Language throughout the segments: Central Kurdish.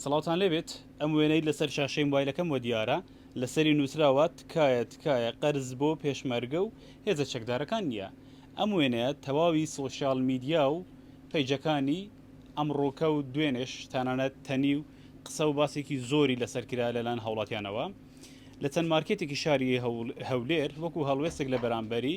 سڵاوتان لێ بێت ئەم وێنەی لەسەر شاشەی موبایلەکەم وە دیارە لەسەری نوسراوە تکایە تکایە قەرز بۆ پێشمەرگە و هێزە چەکدارەکان نیە ئەم وێنەیە تەواوی سۆشیال میدیا و پەیجەکانی ئەمڕۆکە و دوێنێش تەنانەت تەنی و قسە و باسێکی زۆری لەسەر کرا لەلایەن هاوڵاتیانەوە لە چەند مارکێتێکی شاری هەولێر وەکو هەڵوێستێک لە بەرامبەری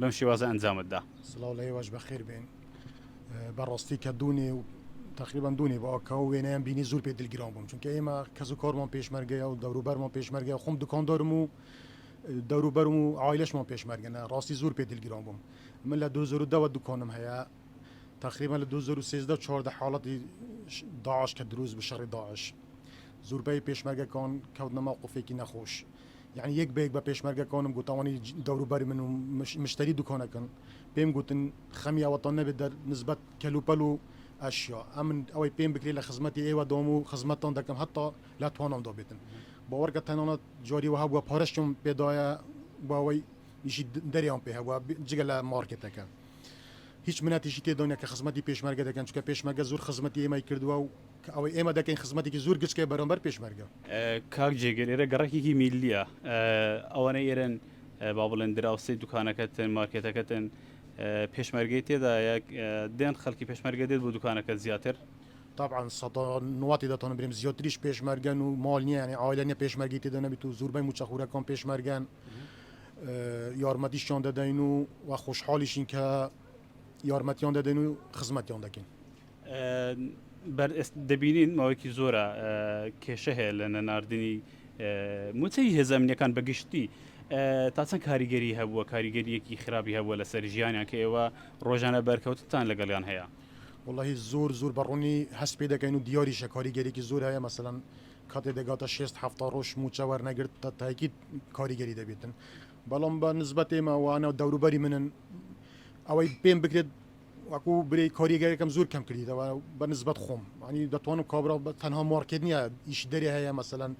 بەم شێوازە ئەنجامت دا. سڵاو لە ئێوەش بەخێر بێن بەڕاستی کە دوونێ و تەقریبەن دوونێ بۆ ئەکا و وێنەیان بینی زور پێ دلگران بووم چونکە ئێمە کەس و کارمان پێشمەرگەیە و دەوروبەرمان پێشمەرگەیە خۆم دوکاندارم و دەوروبەرم و عایلەشمان پێشمەرگەنە ڕاستی زور پێ دلگران بووم من لە دوو هەزار و دە وە دوکانم هەیە تەقریبەن لە دوو هەزار و سێزدە و چواردە حاڵەتی داعش کە دروست بوو شەڕی داعش زوربەی پێشمەرگەکان کەوتنە مەوقفێکی نەخۆش یەعنی یەک بەیەک بە پێشمەرگە کۆنم گوتەوەنی دەورو بەر من و مشتەری دوکۆنەکن پێم گوتن خەمی ئەوەتان نەبێ دەر نسبەت کەل و پەل و ئەشیا ئەمن ئەوەی پێم بکرێ لە خزمەتی ئێوە دام و خزمەتتان دەکەم هەتا لە توانام دا بێتن باوەڕ کە تەنانەت جاری وەها بوە پارەشم پێ دایە بۆ ئەوەی ئیشی دەریان پێ هەبوە جگە لە مارکێتەکە هیچ منەتیشی تێدا نیە کە خزمەتی پێشمەرگە دەکەن چونکە پێشمەرگە زۆر خزمەتی ئێمەی کردوە و کە ئەوەی ئێمە دەکەین خزمەتێکی زور گچکەیە بەرامبەر پێشمەرگە. کاک جێگر ئێرە گەڕەکێکی میللیە ئەوانەی ئێرەن با بڵێن دراوسێی دوکانەکەتن مارکێتەکەتن پێشمەرگەی تێدایە دێن خەلکی پێشمەرگە دێت بۆ دوکانەکەت زیاتر. تەبعەن سەدا نواتی دەتانم برێم زیاتریش پێشمەرگەن و ماڵ نیە یانی عایلە نیە پێشمەرگەی تێدا نەبیت و زوربەی موچە خورەکان پێشمەرگەن یارمەتیشیان دەدەین و وە خۆشحالیشین کە یارمەتیان دەدەین و خزمەتیان دەکەین. دەبینین ماوەیەکی زۆرە کێشە هەیە لە نەناردنی موچەی هێزە ئەمنیەکان بە گشتی تا چەند کاریگەری هەبووە کاریگەریەکی خراپی هەبووە لەسەر ژیانیان کە ئێوە ڕۆژانە بەرکەوتتان لەگەڵیان هەیە وڵی زۆر زۆر بە ڕوونی هەست پێ دەکەین و دیاریشە کاریگەرێکی زۆر هەیە مەسەەن کاتێ دەگاتە شێست هەفتا ڕۆژ موچە وەرنەگرت تا تاکی کاریگەری دەبێتن بەڵام بە نزبەت ئێمە وانە دەوروبەری منن ئەوەی پێم بکرێت وەکو برێی کۆریگەکەم زور کەم کردیتەوە بە نسبەت خۆم وانی دەتوانم کابرا بە تەنها مارکێت نیە ئیشی دەرێ هەیە مەسەلەن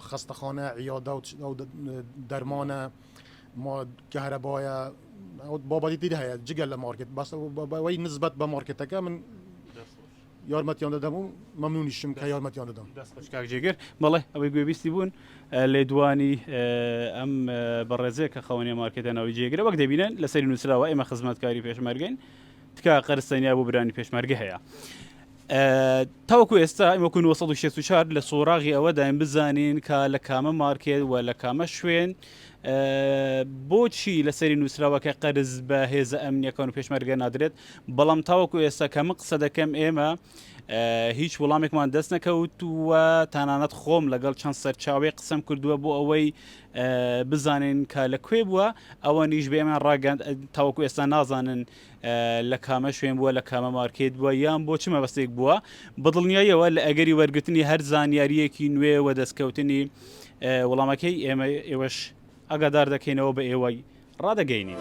خەستەخانە عیادە و دەرمانە ما کەهرەبایە بابەتی تر هەیە جگە لە مارکێت بەس وەی نسبەت بە مارکێتەکە من دەست خۆش. یارمەتیان دەدەم و مەمنونیشم کە یارمەتیان دەدەم. دەست خۆش کاک جێگر، بەڵێ ئەوەی گوێبیستی بوون لێدوانی ئەم بەڕێزەیە کە خاوەنی مارکێتە ناوی جێگرە وەک دەبینن لەسەری نوسراوە ئێمە خزمەتکاری پێشمەرگەین تکایە قەرز تەنیا بۆ برانی پێشمەرگە هەیە تاوەکو ئێستا ئەمە 1964 لە سۆراغی ئەوەداین بزانین کە لە کامە مارکێت و لە کامە شوێن بۆچی لە سەری نووسراوە کە قەرز بە هێزە ئەمنیەکان و پێشمەرگە نادرێت بەڵام تاوەکو ئێستا کە من قسە دەکەم ئێمە هیچ وڵامێکمان دەست نەکەوت و تانانەت خۆم لەگەڵ چەند سەرچاوی قسم کردووە بۆ ئەوەی بزانین کە لە کوێ بووە ئەوە نیش بێمان ڕاگەند تاوەکو ئێستا نازانن لە کامە شوێن بووە، لە کامە مارکێت بووە یان بۆ چ مەبەستێک بووە، بە دڵنیاییەوە لە ئەگەری وەرگرتنی هەر زانیارییەکی نوێ و دەستکەوتنی وڵامەکەی، ئێمە ئێوەش ئاگادار دەکەینەوە بە ئێوەی ڕادەگەینین.